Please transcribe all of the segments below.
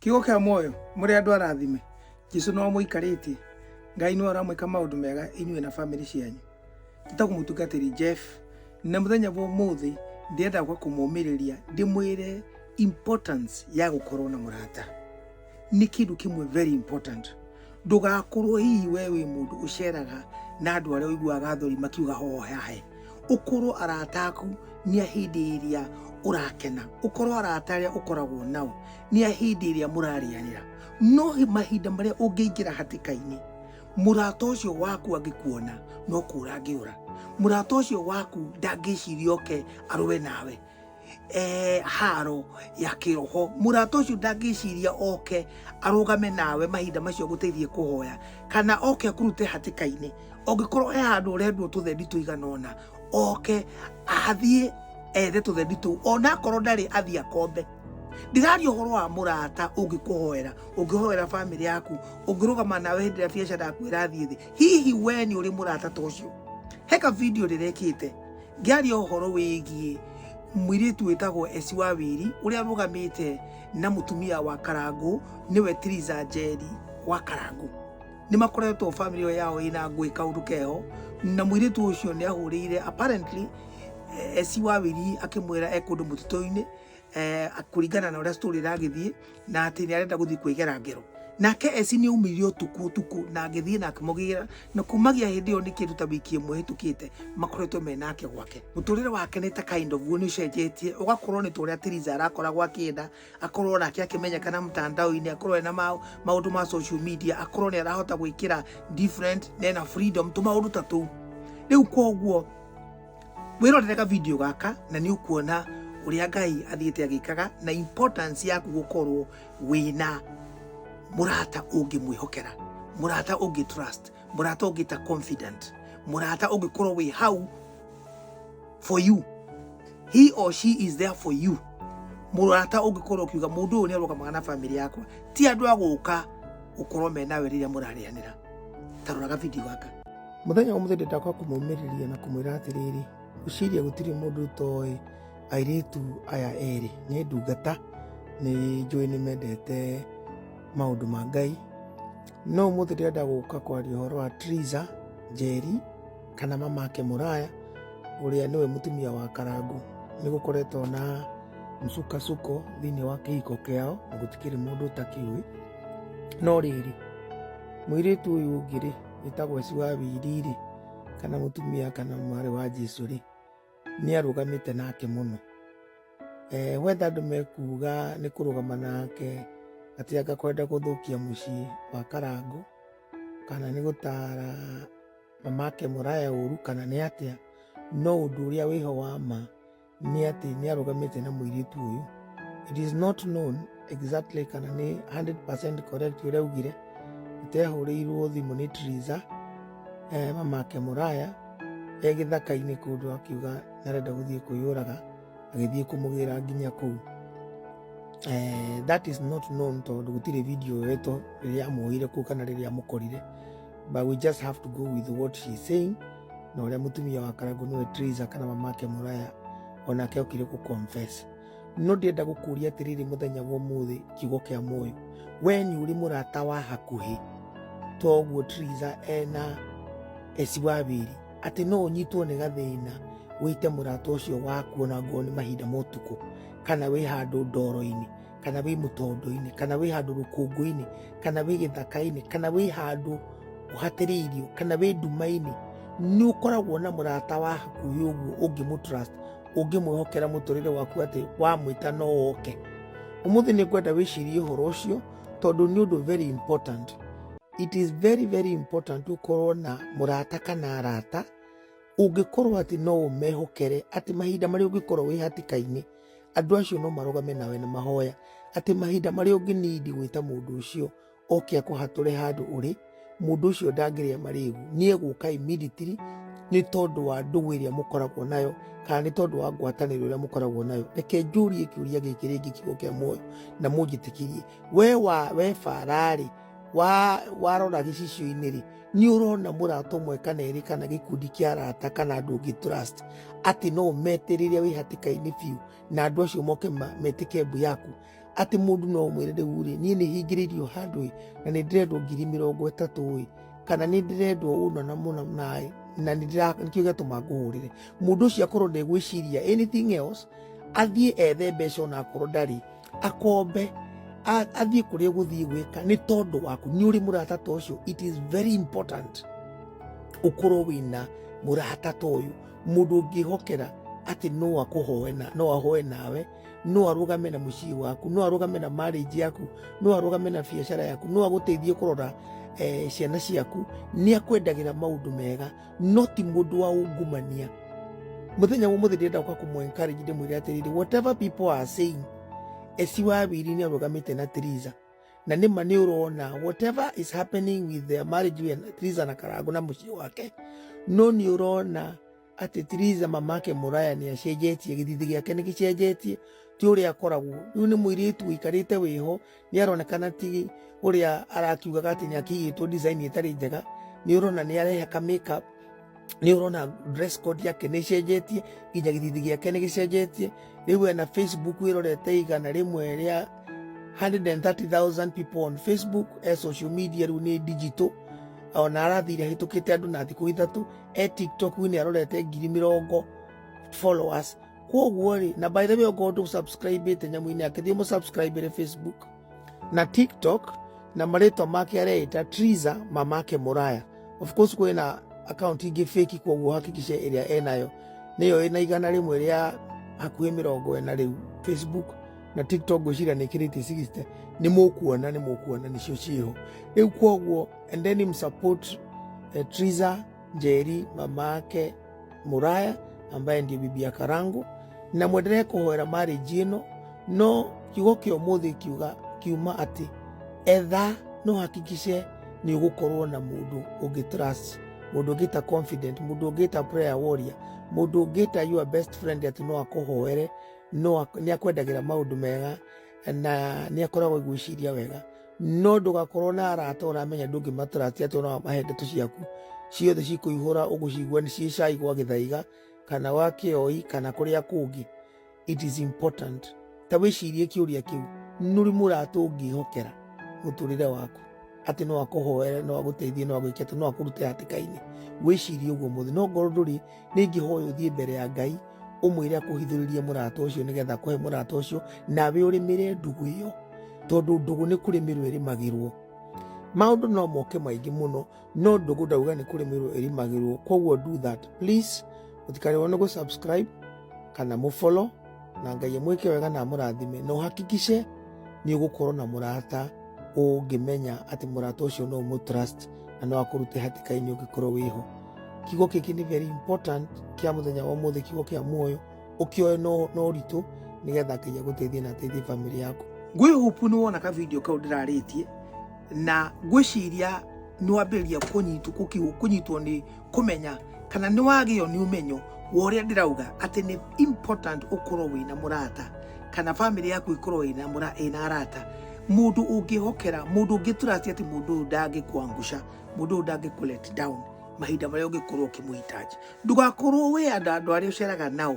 kiugo kĩa muoyo mũrĩ andũ arathime jesu no mũikarĩtie ngai nĩ aramwĩka maũndũ mega inyuĩ na bamĩrĩ cianyu njĩtagwo mũtungatĩri jeff na mũthenya wa ũmũthĩ ndĩrenda gwa kũmũmĩrĩria ndĩmwĩre importance ya gũkorwo na mũrata nĩ kĩndũ kĩmwe very important ndũgakorwo hihi we wĩ mũndũ ũceraga na andũ arĩa ũiguaga thori makiuga hohahe ũkorwo arata aku nĩ hĩndĩ ĩrĩa ũrakena ũkorwo arata arĩa ũkoragwo nao nĩ ahĩndĩ ĩrĩa mũrarĩanĩra no mahinda marĩa ũngĩingĩra hatĩka-inĩ mũrata ũcio waku angĩkuona no kũra angĩũra mũrata ũcio waku ndangĩciria oke arũe nawe e, haro ya kĩroho mũrata ũcio ndangĩciria oke arũgame nawe mahinda macio gũteithie kũhoya kana oke akũrute hatĩka-inĩ ũngĩkorwo he handũ ũrendwo tũthendi tũigana ũna oke athiĩ ethe tũthendi tũu ona akorwo ndarĩ athiĩ akombe ndiraria horo wa murata ungikuhoera ungihoera family yaku ungirugama nawe hindi ria biacara yaku irathie thi hihi we ni uri murata ta ucio heka video rirekite ngiaria horo wigie mwiritu witagwo esi wa wiri uria rugamite na mutumia wa karangu niwe tiriza njeri wa karangu nä makoretwo family ĩyo yao ina ngwä kaundu keho na mwiritu ucio ni ahurire apparently eh, esi wa wiri akimwira e kundu mututu-ini eh, kũringana na ũrĩa story ĩragĩthiĩ na atĩ nĩ arenda gũthiĩ kwĩgera ngero nake eci nĩ aumĩire ũtukũ ũtukũ na agĩthiĩ na akĩmũgĩra na kumagia hĩndĩ ĩyo nĩ kĩndũ ta wiki ĩmwe hĩtũkĩte makoretwo me nake gwake mũtũrĩre wake nĩ ta kind of guo nĩ ũcenjetie ũgakorwo nĩ tũrĩa Tiriza arakoragwo akĩenda akorwo nake akĩmenyekana mtandao-inĩ akorwo ena ma- maũndũ ma social media akorwo nĩ arahota gwĩkĩra different na ena freedom tũmaũndũ ta tũu rĩu koguo wĩrorere ka video gaka na nĩ ũkuona ũrĩa ngai athiĩte agĩkaga na importance yaku gũkorwo wĩna mũrata ũngĩmwĩhokera mũrata ũngĩ trust mũrata ũngĩ ta confident mũrata ũngĩkorwo wĩ hau for you he or she is there for you mũrata ũngĩkorwo ũkiuga mũndũ ũyũ nĩ arũgamaga na famĩlĩ yakwa ti andũ a gũka gũkorwo me nawe rĩrĩa mũrarĩanĩra taroraga video gaka Mũthenya ũmũthĩ ndenda kwa kũmũmĩrĩria na kũmwĩra atĩrĩrĩ, ũciria gũtirĩ mũndũ ũtoĩ airĩtu aya erĩ nĩ ndungata, nĩ njũĩ nĩ mendete maũndũ ma Ngai. No ũmũthĩ ndĩrenda gũka kwaria ũhoro wa Triza Njeri kana mamake Mũraya ũrĩa nĩwe mũtumia wa Karangũ. Nĩ gũkoretwo na msukosuko thĩinĩ wa kĩhiko kĩao na gũtikĩrĩ mũndũ ũtakĩũĩ. No rĩrĩ, mũirĩtu ũyũ ũngĩ rĩ, wĩtagwo Eci wa Wiri-rĩ, kana mũtumia kana mwarĩ wa Jesu-rĩ, nĩarũgamĩte nake mũno. Eh, wenda andũ mekuga nĩ kũrũgama nake atĩ anga kwenda gũthũkia mũciĩ wa Karangũ kana nĩ gũtara mamake Mũraya ũru kana nĩ atĩa, no ũndũ ũrĩa wĩho wa ma nĩ atĩ nĩ arũgamĩte na mũirĩtu ũyũ it is not known exactly kana nĩ 100% correct ũrĩa augire atehũrĩirwo thimũ nĩ Triza eh, mamake Mũraya e gĩthaka-inĩ kũndũ akiuga nĩ arenda gũthiĩ kwĩyũraga agĩthiĩ kũmũgĩra nginya kũu eh, that is not known tondũ gũtirĩ video yoetwo rĩrĩa amwoire kũu kana rĩrĩa amũkorire but we just have to go with what she is saying na uria mutumia wa karangu niwe Teresa kana mamake muraya onake okire ku confess no ndienda gukuria atiriri muthenya wa umuthi kiugo kia muoyo we ni uri murata wa hakuhi toguo Teresa ena eci wa wiri ati no unyitwo ni gathina wite murata ucio waku ona ngoo ni mahinda motuku kana wi handu ndoro-ini kana wĩ mũtondo-inĩ kana wĩ handũ rũkũngũ-inĩ kana wĩ gĩthaka-inĩ kana wĩ handũ ũhatĩrĩirio kana wĩ nduma-inĩ nĩ ũkoragwo na mũrata wa hakuhĩ ũguo ũngĩmũtrust ũngĩmwĩhokera mũtũrĩre waku atĩ wamwĩta no oke ũmũthĩ nĩ ngwenda wĩcirie ũhoro ũcio tondũ nĩ ũndũ very important it is very very important ũkorwo na mũrata kana arata ũngĩkorwo atĩ no ũmehokere atĩ mahinda marĩa ũngĩkorwo wĩ hatĩka-inĩ Andũ acio no marũgame nawe na mahoya atĩ mahinda marĩa ũngĩnindi gwĩta mũndũ ũcio oke akũhatũre handũ ũrĩ, mũndũ ũcio ndangĩrĩa marĩgu. Nĩ egũka immediately nĩ tondũ wa ndũgũ ĩrĩa mũkoragwo nayo kana nĩ tondũ wa ngwatanĩro ĩrĩa mũkoragwo nayo. Reke njũrie kĩũria gĩkĩ rĩngĩ kiugo kĩa muoyo na mũnjĩtĩkĩrie. We wa we bara-rĩ, wa warora gĩcicio-inĩ rĩ nĩ ũrona mũrata ũmwe kana erĩ kana gĩkundi kĩa arata kana andũ ũngĩ trust atĩ no ũmete rĩrĩa wĩ hatĩka-inĩ biũ na andũ acio moke ma- metĩke mbu yaku atĩ mũndũ no ũmwĩre rĩu rĩ niĩ nĩ hingĩrĩirio handũ ĩ na nĩ ndĩrendwo ngiri mĩrongo ĩtatũ ĩ kana nĩ ndĩrendwo ũna na mũna naĩ na nĩ ndĩra- nĩkĩo gĩatũma ngũhũrĩre mũndũ ũcio akorwo ndegwĩciria anything else athiĩ ethe mbeca ona akorwo ndarĩ akombe a- athiĩ kũrĩa ũgũthiĩ gwĩka nĩ tondũ waku nĩ ũrĩ mũrata ta ũcio it is very important ũkorwo wĩna mũrata ta ũyũ mũndũ ũngĩhokera atĩ no akũhoe na no ahoe nawe no arũgame na mũciĩ waku no arũgame na marriage yaku no arũgame na biacara yaku no agũteithie kũrora eh, ciana ciaku nĩ akwendagĩra maũndũ mega no ti mũndũ wa ungumania muthenya wa muthi ndirenda kwa kumu encourage ndi mwire atiriri whatever people are saying esi wa wiri ni arugamite na Teresa na ni ma ni urona whatever is happening with their marriage with Teresa na Karangu na mucii wake no ni urona ati Teresa mamake muraya ni acenjetie githithi giake ni gicenjetie ti uria akoragwo riu ni mwiritu wikarite wiho nĩ aronekana ti ũrĩa arakiugaga atĩ nĩ akĩigĩtwo design ĩtarĩ njega nĩ ũrona nĩ arehe ka makeup nĩ ũrona dress code yake nĩ ĩcenjetie nginya gĩthithi gĩake nĩ gĩcenjetie rĩu ena facebook ĩrorete igana rĩmwe rĩa 130,000 people on facebook e social media rĩu nĩ digital ona arathire ahĩtũkĩte andũ na thikũ ithatũ e tiktok nĩ arorete ngiri mĩrongo followers koguo rĩ na by the way okorwo ndå subscribe te nyamå-inä yake thiä må subscribe re facebook na tiktok na marĩtwa make areĩta triza mamake mũraya of course kwĩ na account ingĩ fake koguo hakikice ĩrĩa enayo nĩyo ĩna igana rĩmwe rĩa hakuhĩ mĩrongo ĩna rĩu facebook na tiktok ngwĩciria nĩ kĩrĩtie 60 nĩ mũkuona nĩ mũkuona nĩcio ciĩho rĩu koguo and then msupport eh, triza njeri mamake muraya ambaye ndiye bibi ya karangu na mwendelee kuhoera marriage ĩno no kiugo kĩa ũmũthĩ kiuga kiuma atĩ etha no hakikice nĩ ũgũkorwo na mũndũ ũngĩ trust mũndũ ũngĩta confident mũndũ ũngĩta prayer warrior mũndũ ũngĩta your best friend atĩ no akũhoere no ak- nĩ akwendagĩra maũndũ mega na nä akoragwo gwĩciria wega no ndũgakorwo na arata ũramenya ndũngĩmataratia atĩ ona mahe ndeto ciaku ciothe cikũihũra ũgũcigua nĩ ciĩ cai gwa gĩthaiga kana wa kĩoi kana kũrĩa kũngĩ it is important ta wĩcirie kĩũria kĩu nũri mũrata ũngĩhokera mũtũrĩre waku atĩ no akũhoere no agũteithie no agwĩke atĩ no akũrute hatĩka-inĩ wĩcirie ũguo mũthĩ no ngorwo ndũrĩ ningĩ hoya ũthiĩ mbere ya ngai ũmwĩre akũhithũrĩrie mũrata ũcio nĩgetha kũhe mũrata ũcio nawe ũrĩmĩre ndũgũ ĩyo tondũ ndũgũ nĩ kũrĩmĩrwo ĩrĩmagĩrwo maũndũ no moke maingĩ mũno no ndũgũ ndauga nĩ kũrĩmĩrwo ĩrĩmagĩrwo koguo do that please mũtikarĩrwo nĩ gũ subscribe kana mũ follow na ngai amwĩke wega na amũrathime na ũhakikice nĩ ũgũkorwo na mũrata ũngĩmenya atĩ mũrata ũcio no ũmũtrust na no akũrute hatĩka-inĩ ũngĩkorwo wĩho kiugo kĩkĩ nĩ very important kĩa mũthenya wa ũmũthĩ kiugo kĩa muoyo ũkĩoe no no ũritũ nĩgetha ngai agũteithie na ateithie bamĩrĩ yaku ngwĩ hope nĩ wona ka video kau ndĩrarĩtie na ngwĩciria nĩwambĩrĩria kũnyitwo kũki- kũnyitwo nĩ kũmenya kana nĩ wagĩo nĩ ũmenyo wa ũrĩa ndĩrauga atĩ nĩ important ũkorwo wĩna mũrata kana bamĩrĩ yaku ĩkorwo ĩna mũra- ĩna arata mũndũ ũngĩhokera mũndũ ũngĩ tũratia atĩ mũndũ ũyũ ndangĩkwanguca mũndũ ũyũ ndangĩkũ let down mahinda marĩa ũngĩkorwo ũkĩmũhitaji ndũgakorwo wĩ andũ andũ arĩa ũceraga nao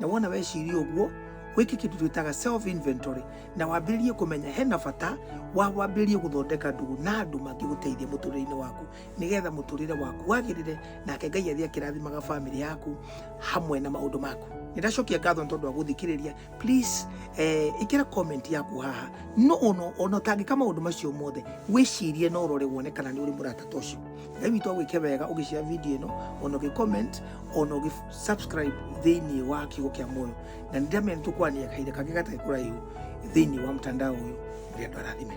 na wona weciria ũguo wĩke kĩndũ twĩtaga self inventory na wambĩrĩrie kũmenya hena bata wa wambĩrĩrie gũthondeka ndũgũ na andũ mangĩgũteithia mũtũrĩre-inĩ waku nĩgetha mũtũrĩre waku wagĩrĩre nake ngai athiĩ akĩrathimaga bamĩrĩ yaku hamwe na maũndũ maku nĩndacokia ngatho nĩ tondũ wa gũthikĩrĩria please eh, ĩkĩra comment yaku haha no ono ona ũtangĩka maũndũ macio mothe wĩcirie no ũrore wone kana nĩ ũrĩ mũrata ta ũcio ngai witũ agwĩke wega ũgĩcĩa video ĩno ona ũgĩ comment ona ũgĩ subscribe thĩinĩ wa kiugo kĩa muoyo na nĩ ndĩramenya nĩ tũkwaranĩria kahinda kangĩ gatarĩ kũraihu thĩinĩ wa mtandao ũyũ rĩrĩa andũ arathime